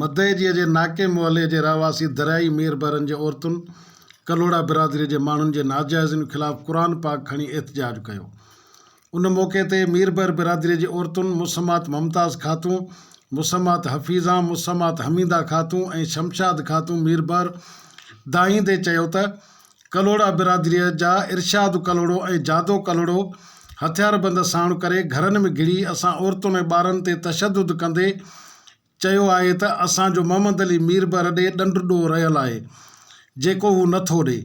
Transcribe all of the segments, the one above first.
مدئجيء جي ناڪي محلي جي رهواسي دريائي مير بحرن جي عورتن ڪلهوڙا برادريء جي ماڻهن جي ناجائزين خلاف قرآن پاڪ کڻي احتجاج ڪيو. ان موقعي تي مير بحر برادريء جي عورتن مسمات ممتاز خاتون، مسمات حفيظان، مسمات حميده خاتون ۽ شمشاد خاتون مير بحر دانهيندي چيو ته، ڪلهوڙا برادريء جا ارشاد ڪلهوڙو ۽ جادو ڪلهوڙو هٿياربند ساڻ ڪري گهرن ۾ گهڙي اسان عورتن ۽ ٻارن تي تشدد ڪندي چيو آهي ته اسان جو محمد علي مير به رڏي ڏنڊ ڏوهه رهيل آهي جيڪو هو نه ٿو ڏئي.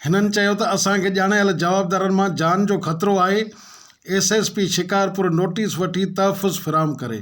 هنن چيو ته اسان کي ڄاڻايل جوابدارن مان جان جو خطرو آهي S S P Shikarpur notice وٺي تحفظ فراهم ڪري.